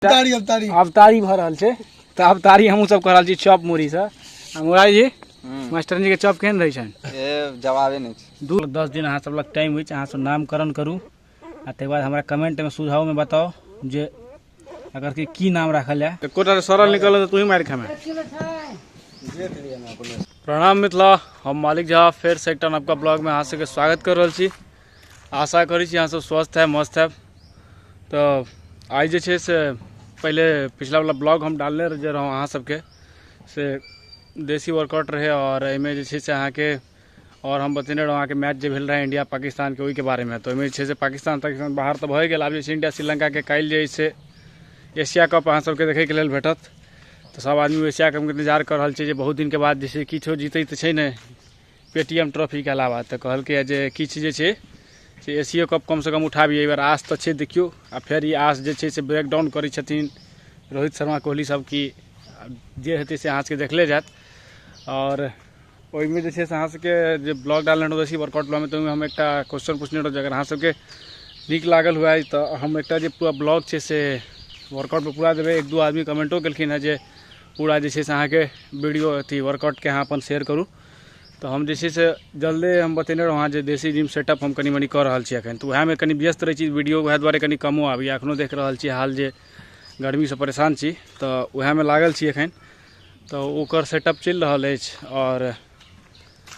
तारी अब तारी आब तारी भऽ रहल छै तऽ आब तारी हमहूँ सब कऽ रहल छी चॉप मुरहीसँ आ मुरारी जी मास्टरनी के चॉप केहन रहै छनि ए जवाबे नहि छै दू दस दिन अहाँ सब लग टाइम होइ छै अहाँ सब नामकरण करू आ तकर बाद हमरा कमेंटमे सुझावमे बताउ जे अगर कि की नाम राखल जाय एकोटा सरल निकल तऽ तूही मारि खामे प्रणाम मिथिला हम मालिक झा फेर से एकटा नवका ब्लॉगमे अहाँ सबके स्वागत कर रहल छी आशा करै छी अहाँसभ स्वस्थ हैब मस्त हैब तऽ आइ जे छै से पहिले पिछलावला ब्लॉग हम डालने जे रहौँ अहाँ सबके से देसी वर्कआउट रहै आओर एहिमे जे छै से अहाँके आओर हम बतेने रहौँ अहाँके मैच जे भेल रहै इंडिया पाकिस्तानके ओहिके बारेमे तऽ ओहिमे जे छै से पाकिस्तान ताकिस्तान बाहर तऽ भए गेल आब जे छै इंडिया श्रीलंकाके काल्हि जे छै एशिया कप अहाँ सबके देखैके लेल भेटत तऽ सब आदमी एशिया कपके इन्तजार कऽ रहल छै जे बहुत दिनके बाद जे छै किछो जीतै तऽ छै नहि पेटीएम ट्रॉफीके अलावा तऽ कहलकैए जे किछु जे छै से एशियो कप कमसँ कम उठाबी एहि बेर आस तऽ छै देखियौ आ फेर ई आस जे छै से ब्रेकडाउन करै छथिन रोहित शर्मा कोहली सब की जे हेतै से अहाँसभके देखले जायत आओर ओहिमे जे छै से अहाँसभके जे ब्लॉग डालने रहौँ एसी वर्कआउट ब्लॉगमे तऽ ओहिमे हम एकटा क्वेश्चन पूछने रहौँ जे अगर अहाँसभके नीक लागल हुए तऽ हम एकटा जे पूरा ब्लॉग छै से वर्कआउटपर पूरा देबै एक दू आदमी कमेंटो केलखिन हेँ जे पूरा जे छै से अहाँके वीडियो अथी वर्कआउटके अहाँ अपन शेयर करू तऽ हम जे छै से जल्दे हम बतेने रहौँ अहाँ जे देसी जिम सेटअप हम कनि मनि कऽ रहल छी एखन तऽ उएहमे कनि व्यस्त रहै छी वीडियो उएह दुआरे कनि कमो आबैए एखनो देख रहल छी हाल जे गर्मीसँ परेशान छी तऽ उएहमे लागल छी एखन तऽ ओकर सेटअप चलि रहल अछि आओर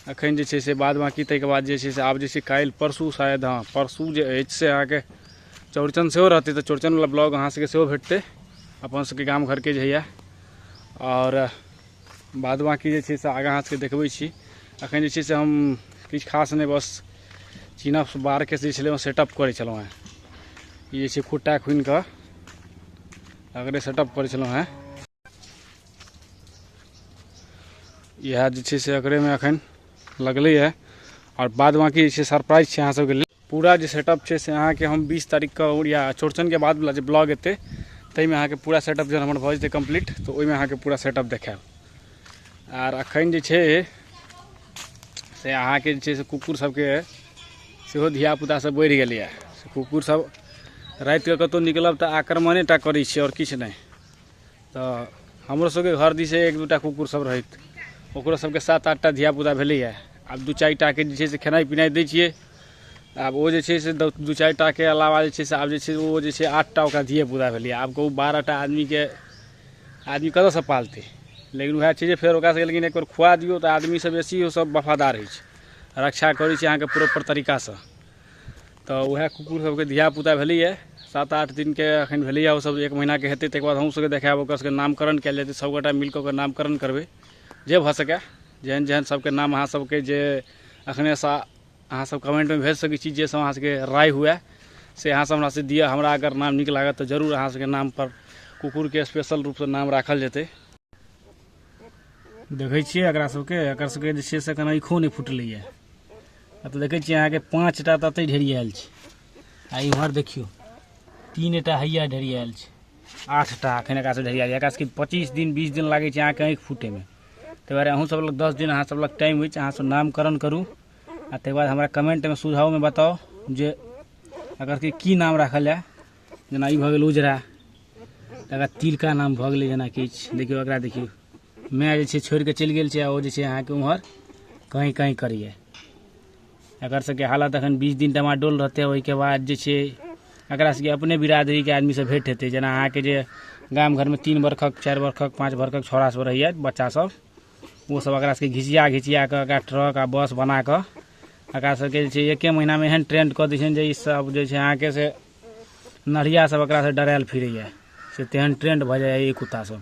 एखन जे छै से बाद बाँकी ताहिके बाद जे छै से आब जे छै काल्हि परसू शायद हँ परसू जे अछि से अहाँके चौड़चन सेहो रहतै तऽ चौड़चनवला ब्लॉग अहाँसभके सेहो भेटतै अपन सभके गाम घरके जे होइए आओर बाद बाँकी जे छै से आगाँ अहाँ सबके देखबै छी अखन जे छै से हम किछु खास नहि बस चीना बारके जे छलै सेटअप करै छलहुँ हेँ ई जे छै खुट्टा खुनि कऽ अगरे सेटअप करै छलहुँ हेँ इएह जे छै से अगरेमे एखन लगलैए आओर बाद बाँकी जे छै सरप्राइज छै अहाँ सबके लेल पूरा जे सेटअप छै से अहाँके हम बीस तारीखके या चौड़चनके बादवला जे ब्लॉग एतै ताहिमे अहाँके पूरा सेटअप जहन हमर भऽ जेतै कम्प्लीट तऽ ओहिमे अहाँके पूरा सेटअप देखायब आर एखन जे छै से अहाँके जे छै से कुकुर सभके सेहो धियापुतासभ बढ़ि गेलैए से कुकुरसभ रातिके कतहु निकलब तऽ आक्रमणे टा करै छै आओर किछु नहि तऽ हमरो सबके घर दिस एक दूटा कुकुर सब रहैत ओकरो सबके सात आठटा धियापुता भेलैये आब दू चारि टाके जे छै से खेनाइ पिनाइ दै छियै आब ओ जे छै से दू चारि टाके अलावा जे छै से आब जे छै ओ जे छै आठटा ओकरा धियेपुता भेलैये आब कहू बारहटा आदमीके आदमी कतऽसँ पालतै लेकिन वएह छै जे फेर ओकरा सबके लेकिन एकबेर खुआ दियौ तऽ आदमीसँ बेसी ओ सब वफादार होइ छै रक्षा करै छै अहाँके प्रोपर तरीकासँ तऽ उएह कुकुर सबके धियापुता भेलैए सात आठ दिनके एखन भेलैए ओसब एक महीनाके हेतै तकर बाद हमहूँ सबके देखायब ओकर सबके नामकरण कयल जेतै सबगोटा मिल कऽ ओकर नामकरण करबै जे भऽ सकय जेहन जेहन सबके नाम अहाँ सबके जे एखनेसँ अहाँ सब कमेन्टमे भेज सकै छी जे सब अहाँ सबके राय हुअए से अहाँ सब हमरासँ दिअ हमरा अगर नाम नीक लागत तऽ जरूर अहाँ सबके नामपर कुकुरके स्पेशल रूपसँ नाम राखल जेतै देखै छियै एकरा सबके एकर सबके जे छै से एखन आँखिओ नहि फुटलैए आ तऽ देखै छियै अहाँके पाँच टा तऽ एतहि ढेरी आयल छै आ इम्हर देखियौ तीन टा हैया ढेरी आयल छै आठ टा एखन एकरा सब ढेरिया एकरा सबके पच्चीस दिन बीस दिन लागै छै अहाँके आँखि फूटैमे ताहि दुआरे अहूँ सब लग दस दिन अहाँ सब लग टाइम अछि अहाँ सब नामकरण करू आ ताहि बाद हमरा कमेंटमे सुझावमे बताउ जे एकर सबके की नाम राखल जाय जेना ई भऽ गेल उजरा तकर बाद तिलका नाम भऽ गेलै जेना किछु देखियौ एकरा देखियौ माय जे छै छोड़ि कऽ चलि गेल छै आ ओ जे छै अहाँके उम्हर कहीं कहीं करिए एकर सबके हालत एखन बीस दिन डमाडोल रहतै ओहिके बाद जे छै एकरा सबके अपने बिरादरीके आदमीसँ भेंट हेतै जेना अहाँके जे गाम घरमे तीन बरखक चारि बरखक पाँच बरखक छौड़ा सब रहैए बच्चा सब ओ सब एकरा सबके घिचिया घिचिया कऽ एकरा ट्रक आ बस बना कऽ एकरा सबके जे छै एके महीनामे एहन ट्रेंड कऽ दै छनि जे ई सब जे छै अहाँके से नढ़िया सब एकरा से डरायल फिरैए से तेहन ट्रेंड भऽ जाइए ई कुत्ता सब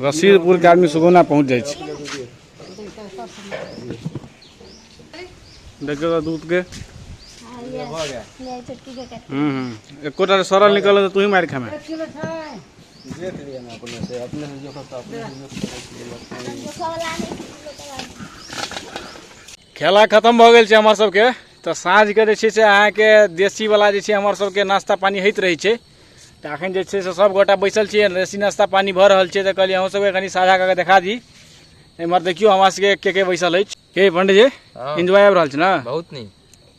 रसीदपुर के आदमी सुगौना पहुंच जाए छै देखियो तो दूध के हम्म हम्म एको टा सरल निकल तो तू ही मार खामे खेला खत्म भऽ गेल छै हमर सबके तऽ साँझके जे छै से अहाँके देसीवला जे छै हमर सबके नाश्ता पानी होइत रहै छै तऽ अखन जे छै से सब गोटा बैसल छियै रेसी नाश्ता पानी भऽ रहल छै तऽ कहलियै अहूँ सबके कनि साझा कऽ के देखा दी एम्हर देखियौ हमरा सबके के के बैसल अछि के पंडित जी हाँ। एंजॉय आबि रहल छै ने बहुत नीक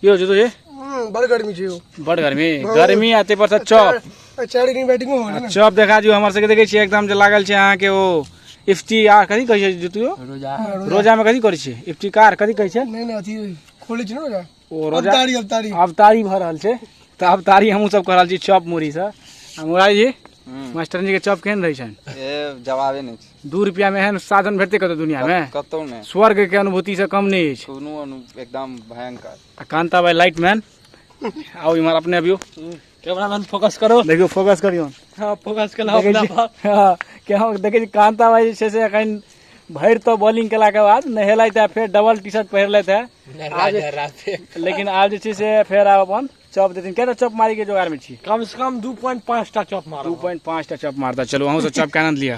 की होइ छै तुझे हम्म, बड़ गर्मी छै ओ बड गर्मी गर्मी आ ताहि पर से चॉप आ चारि दिन बैटिंगो हो रहल चॉप देखा दियौ हमर सबके देखै छियै एकदम जे लागल छै अहाँके ओ इफ्ती आ कथी कहै छै जुतियो रोजा रोजामे कथी करै छियै इफ्तिकार कथी कहै छै नहि नहि अथी खोलै छै ने ओकरा ओ रोजा अवतारी अवतारी अवतारी भऽ रहल छै तऽ अवतारी हमहूँ सब कऽ रहल छी चॉप मुरही से आ मुरारी जी मास्टर जी के चॉप केहन रहै छनि ए जवाबे नहि छै दू रुपया मे एहन साधन भेटतै कतौ दुनिया मे कतौ नहि स्वर्ग के अनुभूति से कम नहि अछि कोनो अनु एकदम भयंकर आ कांता भाई लाइट मैन आउ इम्हर अपने अबियो कैमरामैन फोकस करो देखियौ फोकस करियौ हँ फोकस केलहुँ देखै अपना छी पर हँ, कि हम देखै छी कान्ता भाई जे छै से एखन भरि तऽ बॉलिंग केलाके बाद नहेलथि है फेर डबल टी शर्ट पहिरलथि है आब जे- लेकिन आब जे छै से फेर आब अपन चौप देथिन कएटा चौप मारी के जोगाड़ में छी कम से कम दू पॉइंट पाँच टा चौप दू मारो पॉइंट पाँच टा चौप मारता चलू अहूँ सब चौप के आनंद लिअ